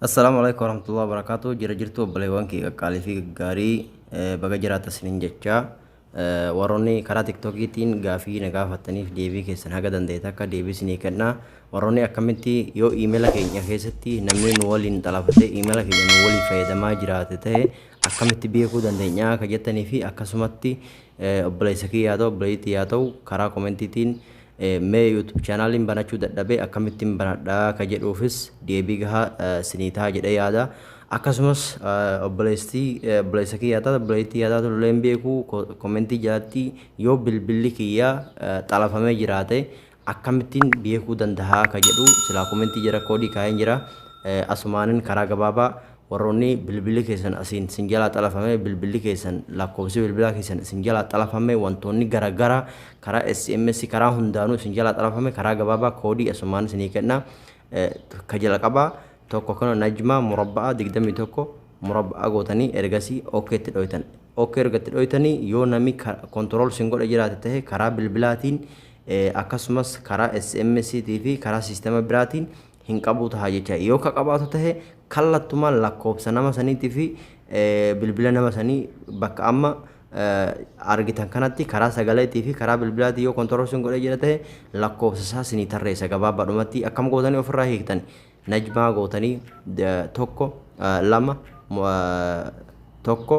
Assalaamu alaikum warahmatullahi wabarakatuh jira jirtu obboleewwan kee qaqqaalii fi gaggaarii eh, baga jiraata isiniin jecha eh, warroonni karaa tiktokiitiin gaafii na gaafattaniif deebii keessan haga dandeete akka deebii isinii kenna warroonni akkamitti yoo iimela keenya keessatti namni nu waliin xalafate iimela keenya nu waliin fayyadamaa jiraate ta'e akkamitti beekuu dandeenya akka jettanii fi akkasumatti eh, obboleessa kiyyaa ta'u obboleettii yaa ta'u karaa komentiitiin Mee YouTube channelin banachuu dadhabe akkamittin banadha ka jedhuufis deebii gahaa sinii taha jedhee yaada. Akkasumas obboleessi obboleessa kiyyaa taatu obboleettii kiyyaa taatu illee hin beeku komentii jalatti yoo bilbilli kiyya xalafamee jiraate akkamittin beekuu dandahaa ka jedhu silaa komentii jala koodii kaa'een jira asumaanin karaa gabaabaa Warroonni bilbilli keessan asiin sin jalaa xalafame bilbilli keessan lakkoofsi bilbilaa keessan isin jalaa xalafame wantoonni gara gara karaa sms karaa hundaanuu isin jalaa xalafame karaa gabaabaa koodii asumaan isinii kenna ka jalqabaa tokko kana najmaa murabba'a 21 murabba'a gootanii ergasii ok itti dhoytan ok erga itti dhoytanii yoo nami kontirool sin godhe jiraate tahe karaa bilbilaatiin akkasumas karaa sms tii fi karaa siistema biraatiin hin qabuu taha jecha. Yoo ka qabaatu tahe kallattumaan lakkoofsa nama saniitii fi bilbila nama sanii bakka amma argitan kanatti karaa sagaleetii fi karaa bilbilaatii yoo kontorol sin godhee jira tahe lakkoofsa isaa sinii tarreessa gabaabadhumatti akkam gootanii ofirraa hiiktan najmaa gootanii tokko lama tokko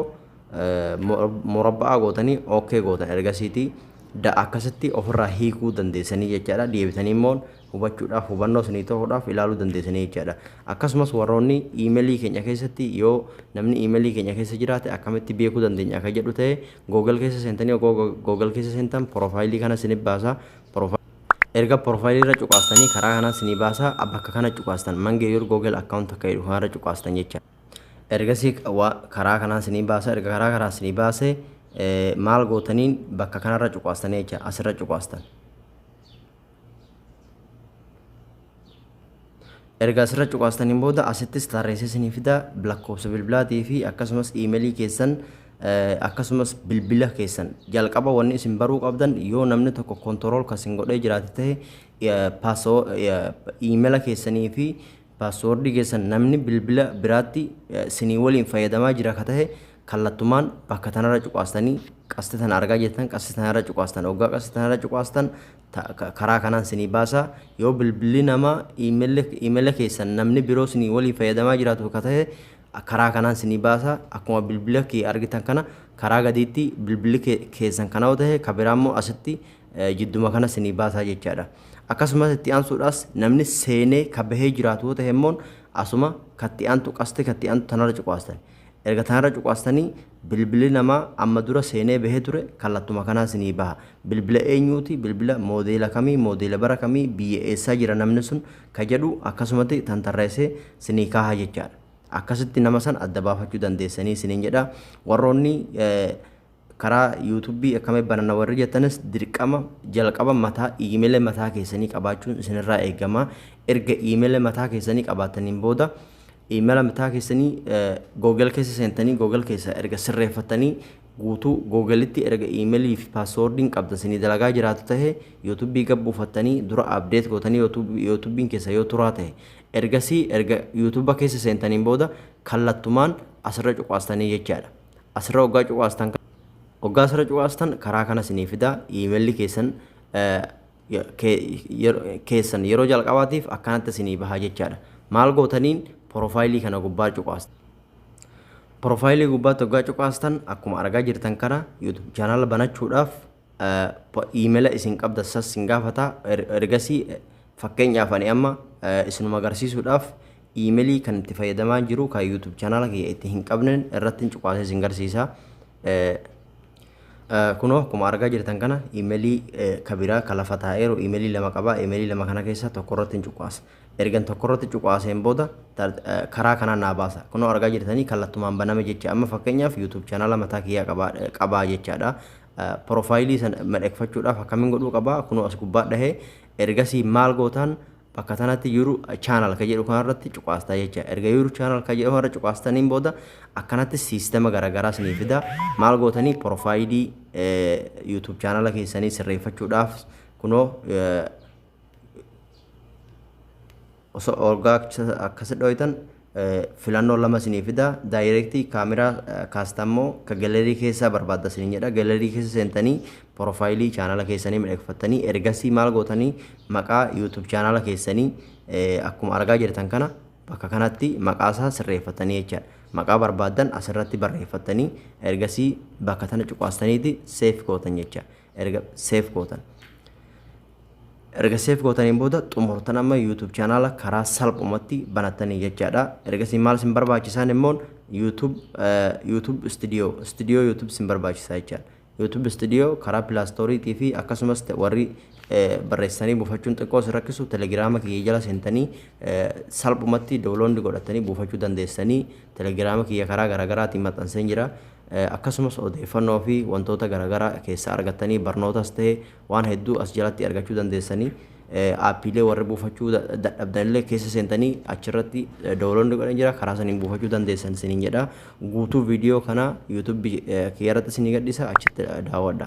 murabba'aa gootanii ok gootan ergasiitii akkasitti ofirraa hiikuu dandeessanii jechaadha deebitanii immoo hubachuudhaaf, hubannoo isinii ta'uudhaaf ilaaluu dandeessanii jechaadha. Akkasumas warroonni email keenya keessatti yoo namni email keenya keessa jiraate akkamitti beekuu dandeenya akka jedhu ta'e Google keessa seentanii ogoo Google keessa seentan profile kana isinif baasa. Erga profile irra cuqaastanii karaa kanaan isinii baasa bakka kana cuqaastan mange your Google account akka jedhu kanarra cuqaastan jecha. Ergasii karaa kanaan isinii baasa erga karaa kanaan isinii baase maal gootaniin bakka kanarra cuqaastanii jecha asirra cuqaastan. Erga asirra cuqaastaniin booda asittis tarreessee isinii fida lakkoofsa bilbilaatii fi akkasumas iimeelii keessan akkasumas bilbila keessan jalqaba wanni isin baruu qabdan yoo namni tokko kontorool kan isin godhee jiraate ta'e iimeela keessanii fi Password keessan namni bilbila biraatti sinii waliin fayyadamaa jira ka tahe kallattumaan bakka tanarra cuqaastanii qasti tana argaa jettan qasti tanarra cuqaastan oggaa qasti tanarra cuqaastan karaa kanaan sinii baasa yoo bilbilli nama imeela keessan namni biroo sinii waliin fayyadamaa jiraatu ka tahe karaa kanaan sinii baasa akkuma bilbila kee argitan kana karaa gadiitti bilbilli keessan kana yoo tahe ka biraa immoo asitti jidduma kana sinii baasaa jechaadha. Akkasumas itti aansuudhaas namni seenee ka bahee jiraatu yoo ta'e immoo asuma katti aantu qasti katti aantu tanarra cuqaastan. Erga tanarra cuqaastanii bilbilli namaa amma dura seenee bahee ture kallattuma kanaan sinii baha. Bilbila eenyuuti bilbila moodeela kamii moodeela bara kamii biyya eessaa jira namni sun ka jedhu akkasumatti tantarreessee sinii kaaha jechaadha. Akkasitti nama san adda baafachuu dandeessanii siniin jedha. Warroonni Karaa youtube akkamitti bananna warri jettanis dirqama jalqaba mataa email mataa keessanii qabaachuun isinirraa eegama. Erga email mataa keessanii qabaattaniin booda email mataa keessanii google keessa seentanii google keessa erga sirreeffattanii guutuu googelitti erga email fi paaswoordiin qabdan isinii dalagaa jiraatu ta'e youtube gad buufattanii dura update gootanii youtubein keessa yoo turaa ta'e ergasii erga youtube keessa seentaniin booda kallattumaan asirra cuqaastanii jechaadha. asirra oggaa cuqaastan oggaa asirra cuqaastan karaa kana isinii fida iimeelli keessan keessan yeroo jalqabaatiif akkanatti isinii bahaa jechaadha maal gootaniin porofaayilii kana gubbaa cuqaastan porofaayilii gubbaatti oggaa cuqaastan akkuma argaa jirtan kana yuutuub chaanaala banachuudhaaf Iimela isin qabda sas sin gaafata ergasi fakkeenyaaf ani amma isinuma agarsiisuudhaaf iimelii kan itti fayyadamaa jiru kan YouTube channel kiyya itti hin qabnen irratti cuqaasee isin garsiisa. Kunoo akkuma argaa jirtan kana iimelii kabiraa kan lafa taa'eeru iimelii lama qaba iimelii lama kana keessa tokko irratti hin cuqaasa. Ergan tokko irratti cuqaaseen booda karaa kanaan naa baasa. Kunoo argaa jirtanii kallattumaan baname jecha amma fakkeenyaaf YouTube channel mataa kiyyaa qabaa jechaadha. Profile san madhekfachuudhaaf akkamin godhuu qaba kunoo as gubbaa dhahe ergasii maal gootaan bakka tanatti yuru channel ka jedhu kanarratti cuqaastaa jecha erga yuru channel ka jedhu kanarra cuqaastaniin booda akkanatti siistema garagaraa sinii fida maal gootanii profile youtube channel keessanii sirreeffachuudhaaf kunoo osoo orgaa akkasi dhooytan filannoo lama isinii fida daayireektii kaameraa kaastammoo ka galerii keessaa barbaadda isin jedha galerii keessa seentanii porofaayilii chaanala keessanii midhagfattanii ergasii maal gootanii maqaa yuutuub chaanala keessanii akkuma argaa jirtan kana bakka kanatti maqaa isaa sirreeffattanii jecha maqaa barbaaddan asirratti barreeffattanii ergasii bakka tana cuqaastaniiti seef gootan jecha erga seef gootan erga seef gootaniin booda xumurtan amma YouTube chaanaala karaa salphumatti banattanii jechaadha. Ergasii maal sin barbaachisaan immoo YouTube YouTube studio studio YouTube sin barbaachisaa jechaadha. YouTube studio karaa pilaastoriitii fi akkasumas warri barreessanii buufachuun xiqqoo sin rakkisu telegiraama kiyya jala seentanii salphumatti download godhatanii buufachuu dandeessanii telegiraama kiyya karaa garaagaraatiin maxxanseen jira. Akkasumas odeeffannoo fi wantoota garagaraa keessaa argattanii barnootas ta'e waan hedduu as jalatti argachuu dandeessanii aappiilee warri buufachuu dadhabdan illee keessa seentanii achirratti download godhan jira karaa saniin buufachuu dandeessan isiniin jedha guutuu viidiyoo kana yuutuubii kiyyarratti isinii gadhisa achitti daawwadha.